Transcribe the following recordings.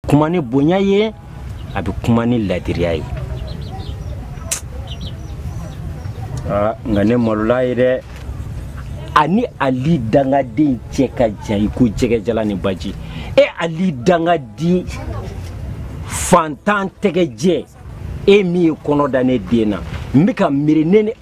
kuma ni bonya ye a bɛ kuma ni ladiriya ye ah, nka ne malola ye dɛ ani ali dangaden cɛ ka jan i ko jɛgɛjalan ni baji e ali dangaden fantan tɛgɛjɛ e min ye kɔnɔ da ne den na n bɛ ka miiri ne ni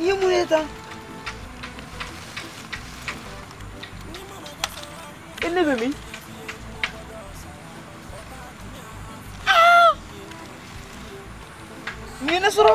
Ni mun ye tan? E ne bɛ min? Mun ye ne sɔrɔ.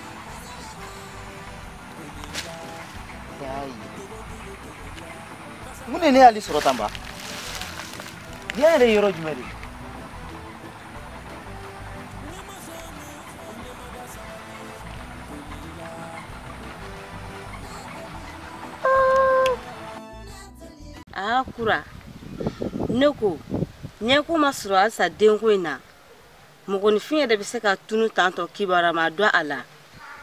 mun de ne y'ale sɔrɔ tan ba diɲɛ yɛrɛ ye yɔrɔ jumɛn de ye aa kura ne ko ɲɛko ma sɔrɔ halisa denko in na mɔgɔninfin yɛrɛ bɛ se ka tunun tan tɔ kibaruya ma dɔn a la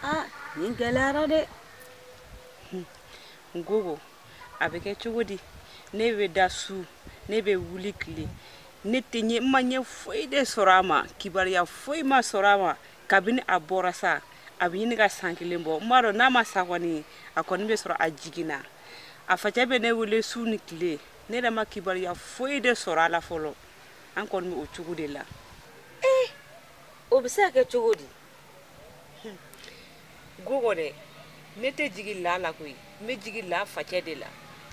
aa nin gɛlɛyara dɛ ngogo a bɛ kɛ cogo di ne bɛ da su ne bɛ wuli tile ne tɛ ɲɛ n ma ɲɛ foyi de sɔrɔ a ma kibaruya foyi ma sɔrɔ a ma kabini a bɔra sa a bɛ ɲini ka san kelen bɔ n b'a dɔn n'a ma sa kɔni a kɔni bɛ sɔrɔ a jiginna a facɛ bɛ ne wele su ni tile ne yɛrɛ ma kibaruya foyi de sɔrɔ a la fɔlɔ an kɔni bɛ o cogo de la ee o bɛ se ka kɛ cogo di gogo dɛ ne tɛ jigi la la koyi n bɛ jigi la facɛ de la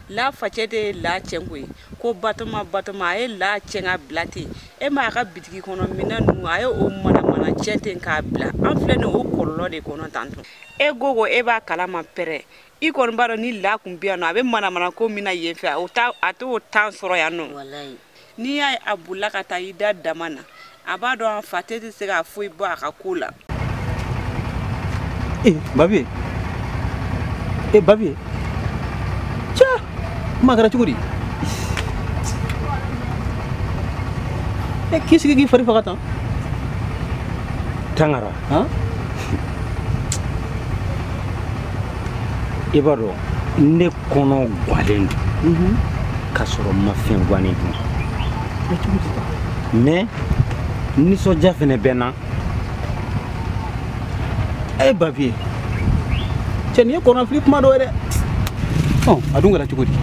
la facɛ de ye la tiɲɛ koyi ko batoma batoma a ye la tiɲɛ k'a bila ten e ma a ka bitigi kɔnɔ minɛn ninnu a ye o manamana tiɲɛ ten k'a bila an filɛ nin o kɔlɔlɔ de kɔnɔ tan tɔ e gogo e b'a kalama pɛrɛ i kɔni b'a dɔn ni la kun bɛ yan nɔ a bɛ manamana ko min na yen fɛ o t'a a t'o tan sɔrɔ yan nɔ walayi n'i y'a ye a bolila ka taa i da dama na a b'a dɔn a fa tɛ tɛ se ka foyi bɔ a ka ko la ee babi ee babi ca kuma kɛra cogo di e k'i sigi k'i fari faga tan tangara i b'a dɔn ne kɔnɔ gwalen don mhm. k'a sɔrɔ n ma fɛn gwannen dun mɛ nisɔndiya fɛnɛ bɛ n na ee babi e cɛ nin ye kɔnɔfili kuma dɔ ye dɛ ɔ a dun kɛra cogo di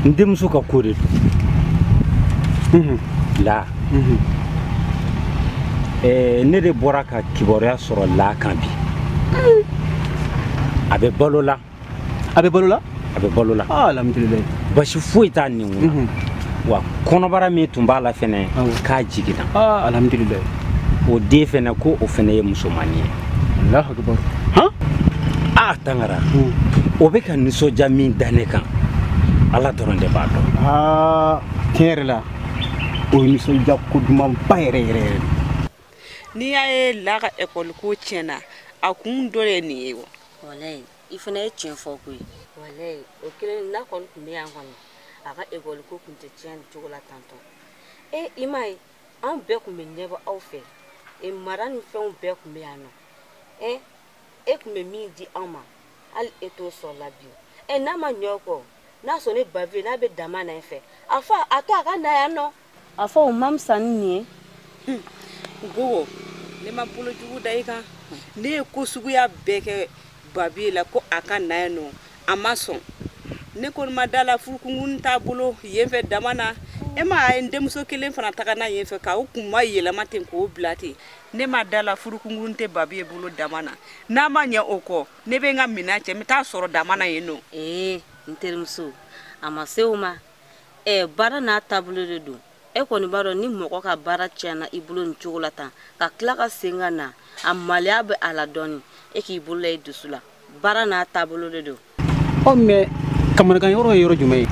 n denmuso ka ko de don la ne de bɔra ka kibaruya sɔrɔ la kan bi a bɛ balo la a bɛ balo la a bɛ balo la ah, alhamdulilayi basi foyi t'a nin na mhm. wa kɔnɔbara min tun b'a la fɛnɛ k'a jiginna ah, alhamdulilayi o den fɛnɛ ko o fɛnɛ ye musomani ye alahu akibaru han a tangara o bɛ ka nisɔndiya min da ne kan ala dɔrɔn de b'a dɔn ah, tiɲɛ yɛrɛ la o ye nisɔndiya ko dumanba yɛrɛ yɛrɛ yɛrɛ n'i y'a ye la ka ekɔliko tiɲɛna a kun dɔ de ye nin ye wa walayi i fana ye tiɲɛ fɔ koyi walayi o kelen n'a kɔni tun bɛ yan kɔni a ka ekɔli ko tun tɛ tiɲɛ nin cogo la tantɔ e i m'a ye anw bɛɛ tun bɛ ɲɛbɔ aw fɛ e mara ni fɛnw bɛɛ tun bɛ yan nɔ e e tun bɛ min di anw ma hali e t'o sɔrɔ la bi e n'a ma ɲɛ o kɔ n'a sɔrɔ ne babi n'a bɛ dama na yen fɛ a fɔ a to a ka na yan nɔ a fɔ o ma fisa ni nin ye hmm. gogo ne ma bolo jugu da i kan ne ye ko suguya bɛɛ kɛ babi la ko a ka na yan nɔ a ma sɔn ne kɔni ma da la furukunkun t'a bolo yen fɛ dama na e ma a ye n denmuso kelen fana taga na yen fɛ ka o kunmayɛlɛma ten k'o bila ten ne ma da la furukunkun tɛ babi ye bolo dama na n'a ma ɲɛ o kɔ ne bɛ n ka minan cɛ n bɛ taa sɔrɔ dama na yen nɔ ee n terimuso a ma se o ma ɛ baara n'a taabolo de don e kɔni b'a dɔn ni mɔgɔ ka baara tiɲɛna i bolo nin cogo la tan ka tila ka segin ka na a maloya bɛ a la dɔɔni e k'i bolo la i dusu la baara n'a taabolo de don ɔ mɛ kamanagan yɔrɔ ye yɔrɔ jumɛn ye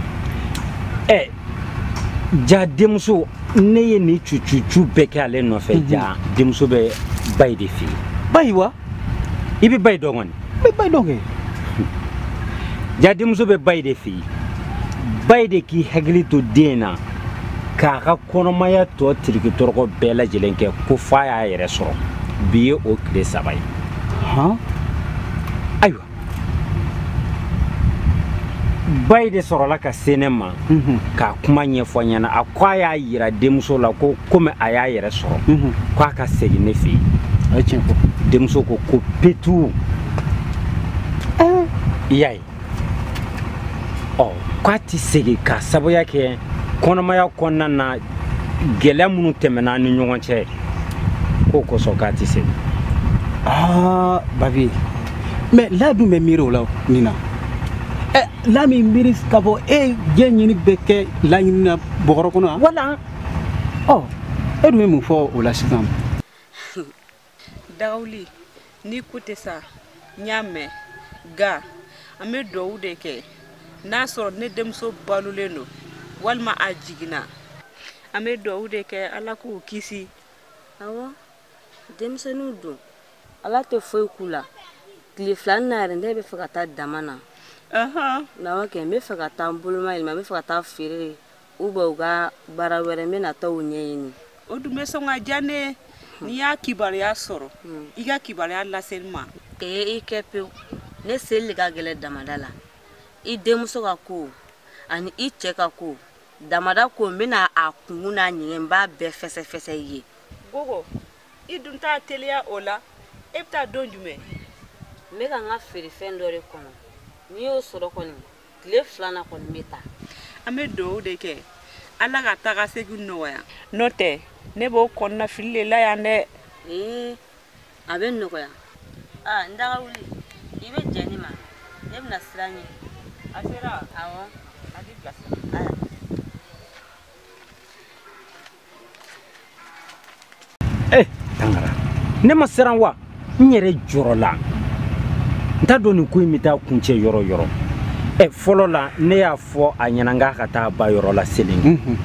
ɛ ja denmuso ne ye nin cucucu bɛɛ kɛ ale nɔfɛ ja denmuso bɛ bayi de fɛ yen bayi wa i bɛ bayi dɔn kɔni n bɛ bayi dɔn kɛ ja denmuso bɛ bayi de fɛ yen bayi de k'i hakili to den na k'a ka kɔnɔmaya tɔ tiriki tɔrɔkɔ bɛɛ lajɛlen kɛ ko f'a y'a yɛrɛ sɔrɔ bi ye o tile saba ye ayiwa bayi de sɔrɔla ka se ne ma mhm. k'a kuma ɲɛfɔ ɲɛna a ko a y'a yira denmuso la ko komi a y'a yɛrɛ sɔrɔ mhm. ko a ka segin ne fɛ yen denmuso ko ko petu eh. i y'a ye ɔ k'a tɛ segin k'a sababuya kɛ kɔnɔmaya kɔnɔna na gɛlɛya minnu tɛmɛna an ni ɲɔgɔn cɛ k'o kosɔn k'a tɛ segin aa babi mɛ la dun bɛ miiri o la nin na ɛ la min miiri ka fɔ e diɲɛ ɲini bɛ kɛ laɲini na bɔgɔrɔ kɔnɔ wa wala ɔ e dun bɛ mun fɔ o la sisan dagawuli n'i ko tɛ sa n y'a mɛn nka an bɛ duwawu de kɛ n'a sɔrɔ ne denmuso balolen don walima a jiginna an bɛ duwawu de kɛ ala k'u kisi awɔ denmisɛnninw don ala tɛ foyi k'u la tile fila na yɛrɛ ne bɛ fɛ ka taa daman na awɔ kɛ n bɛ fɛ ka taa n bolomayɛlɛma n bɛ fɛ ka taa feere u bɛ u ka baara wɛrɛ n bɛ na taa u ɲɛɲini o dun bɛ sɔn ka diya ne n'i y'a kibaruya sɔrɔ hmm. i ka kibaruya lase n ma ee i kɛ pewu ne seli de ka gɛlɛn damanda la i denmuso ka ko ani i cɛ ka ko damanda ko n bɛna a kunkun n'a ɲɛgɛn n b'a bɛɛ fɛsɛfɛsɛ i ye gogo i dun t'a teliya o la e bɛ taa don jumɛn n bɛ ka n ka feerefɛn dɔ de kɔnɔ n'i y'o sɔrɔ kɔni tile fila na kɔni n bɛ taa an bɛ dugawu de kɛ ala ka taga segin nɔgɔya n'o tɛ ne b'o kɔnɔnafili de la yan dɛ ee a bɛ nɔgɔya aa n daga wuli i bɛ jɛn ne ma ne bɛna sira ɲini a sera awɔ a b'i bilasira ee eh, tangara ne ma siran wa n yɛrɛ jɔrɔla n t'a dɔn nin ko in bɛ taa kuncɛ yɔrɔ yɔrɔ ɛ eh, fɔlɔ la ne y'a fɔ a ɲɛna n k'a ka taa ba yɔrɔ la selen mhm.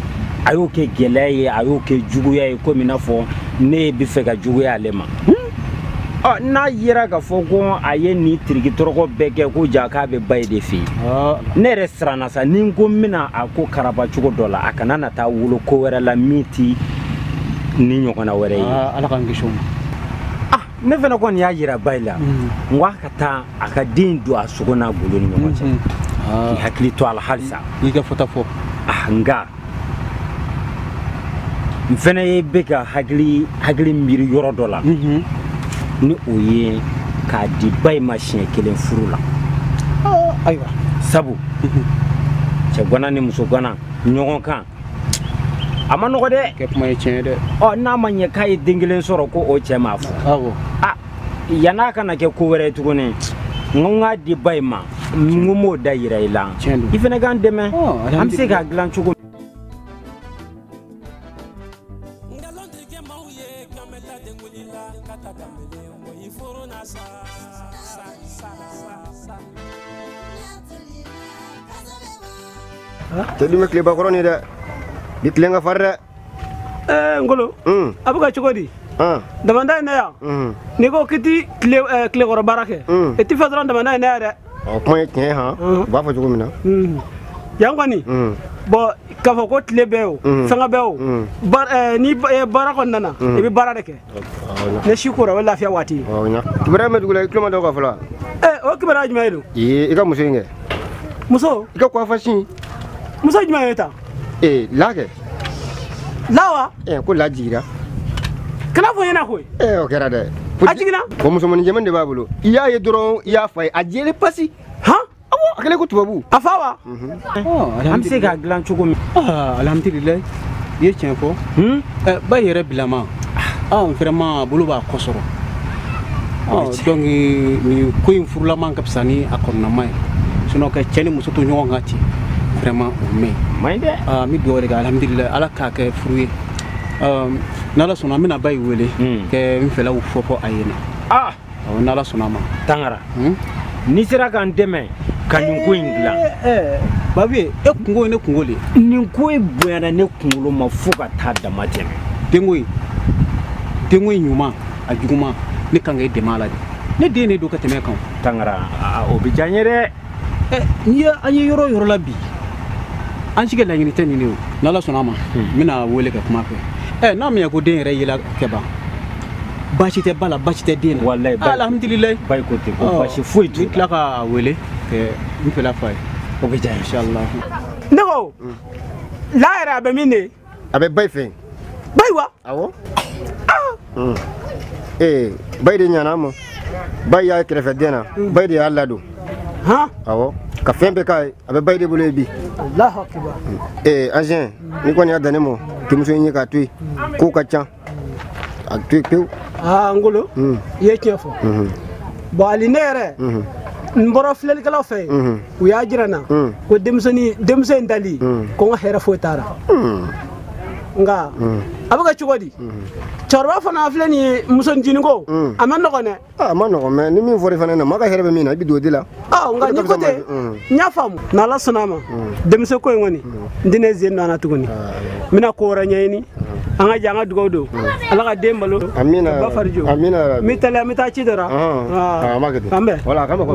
a y'o kɛ gɛlɛya ye a y'o kɛ juguya ye komi i n'a fɔ ne bɛ fɛ ka juguya ale ma ɔ n'a yera k'a fɔ ko a ye nin tiriki tɔrɔkɔ bɛɛ kɛ ko ja k'a bɛ bayi de fɛ yen ne yɛrɛ siranna sa ni n ko n bɛna a ko karaba cogo dɔ la a kana na taa wolo ko wɛrɛ la min ti nin ɲɔgɔnna wɛrɛ ye ala k'an kisi o ma ah ne fana kɔni y'a yira bayi la mm. n ko a ka taa a ka den don a sogo n'a golo ni ɲɔgɔn cɛ mm-hmm. k'i hakili to a la halisa i ka fɔta fɔ ah nka n fɛnɛ ye bɛ ka hakili hakili miiri yɔrɔ dɔ la mhm. ni o ye k'a di bayi ma siɲɛ kelen furu la oh, ayiwa sabu mhm. cɛgana ni musogana ɲɔgɔn kan a man nɔgɔ dɛ kɛ kuma ye tiɲɛ ye dɛ ɔ n'a ma ɲɛ k'a ye den kelen sɔrɔ ko o cɛ m'a fɔ awɔ ah. yan'a kana kɛ ko wɛrɛ ye tuguni n ko n k'a di bayi ma n ko m'o da yira i la i fana k'an dɛmɛ an bɛ se k'a dilan cogo tɛ dun tileba kɔrɔ nin dɛ. bi tile in ka farin. ɛɛ ngolo hmm. a bɛ ka cogo di ah. damanda in na yan hmm. n'i ko k'i ti tilekɔrɔ eh, baara kɛ hmm. i ti fɛn sɔrɔ damanda in na yan dɛ ɔ kuma ye tiɲɛ ye han u b'a fɔ cogo min na yan kɔni bɔn k'a fɔ ko tile bɛ o fɛngɛ bɛ o eh, ni eh, baara kɔni nana i bɛ baara de kɛ ni su kora o ye lafiya waati ye kibaruya bɛ dugu la i tulo ma d'o kan fɔlɔ o kibaruya jumɛn ye don i ka muso in kɛ muso i ka kɔfasi muso jumɛn ye ta ee la kɛ la wa ee ko la jigira kan'a fɔ n ɲɛna koyi ee o kɛra dɛ a jiginna ko musomannin jɛmani de b'a bolo i y'a ye dɔrɔn i y'a fa ye a jɛlen pasi han awɔ a kɛlen ko tubabu a fa wa an bɛ se k'a dilan cogo min alhamdulilayi i ye tiɲɛ fɔ ba yɛrɛ bilama vraiment bolo b'a kɔ sɔrɔ donc nin ko in furulama ka fisa ni a kɔnɔnama ye sinon ka cɛ ni muso to ɲɔgɔn kan ten vraiment o mɛn maɲi dɛ ah, n bɛ dugawu de kɛ alhamdulilayi ala k'a kɛ furu ye n'ala sɔnna n bɛna bayi wele ka n fɛlaw fɔ fɔ a ɲɛ na n'ala sɔnna a ma tangara hmm? n'i sera ka n dɛmɛ ka nin ko in dilan eh, eh, eh. babu ye e kunko ye ne kunko de ye nin ko in bonyana ne kunkolo ma fo ka taa dama tɛmɛ denko in denko in ɲuman a juguman ne kan ka i dɛmɛ a la de ne den de don ka tɛmɛ i kan tangara o bɛ diya n ye dɛ n'i ye an ye yɔrɔ o yɔrɔ la bi an si ka laɲini tɛ nin de ye o n'ala sɔnna a ma hmm. n bɛn'a wele ka kuma a fɛ n'a ma ɲɛ ko den yɛrɛ yela kɛ ban baasi tɛ ba la baasi tɛ den na walayi alhamdulilayi bayi ko ten ko baasi foyi t'u la n tila k'a wele ka n fɛla f'a ye o bɛ diya n ye inshallah ne ko la yɛrɛ a bɛ min de a bɛ bayi fɛ bayi wa awɔ ah. ee eh, bayi de ɲan'a ma bayi y'a kɛrɛfɛ den na hmm. bayi de y'a ladon awɔ ka fɛn bɛɛ k'a ye a bɛ bayi de bolo yen bi ee eh, agent n'i kɔni y'a dan ne ma denmuso in ye k'a to yen kow ka ca a pewu pewu aa ngolo i ye tiɲɛ fɔ bɔn ali ne yɛrɛ n bɔra filɛlikɛlaw fɛ yen u y'a jira n na ko denmisɛnnin denmuso in dali ko n ka hɛrɛ foyi t'a ra nka a bɛ kɛ cogo di cɛkɔrɔba fana filɛ nin ye muso ncinin ko a man nɔgɔn dɛ a man nɔgɔn mɛ ni min fɔra i fana na maa ka hɛrɛ bɛ min na i bɛ don o de la aa nka ni ko tɛ n y'a faamu n'ala sɔnna a ma denmisɛn ko in kɔni n tɛna n sen don a la tuguni n bɛna ko wɛrɛ ɲɛɲini an ka jɛ an ka dugawu don ala ka den balo amina ba fari jo amina n bɛ teliya n bɛ taa ci dɔ la an b'a kɛ ten an bɛn wala a ka nɔgɔ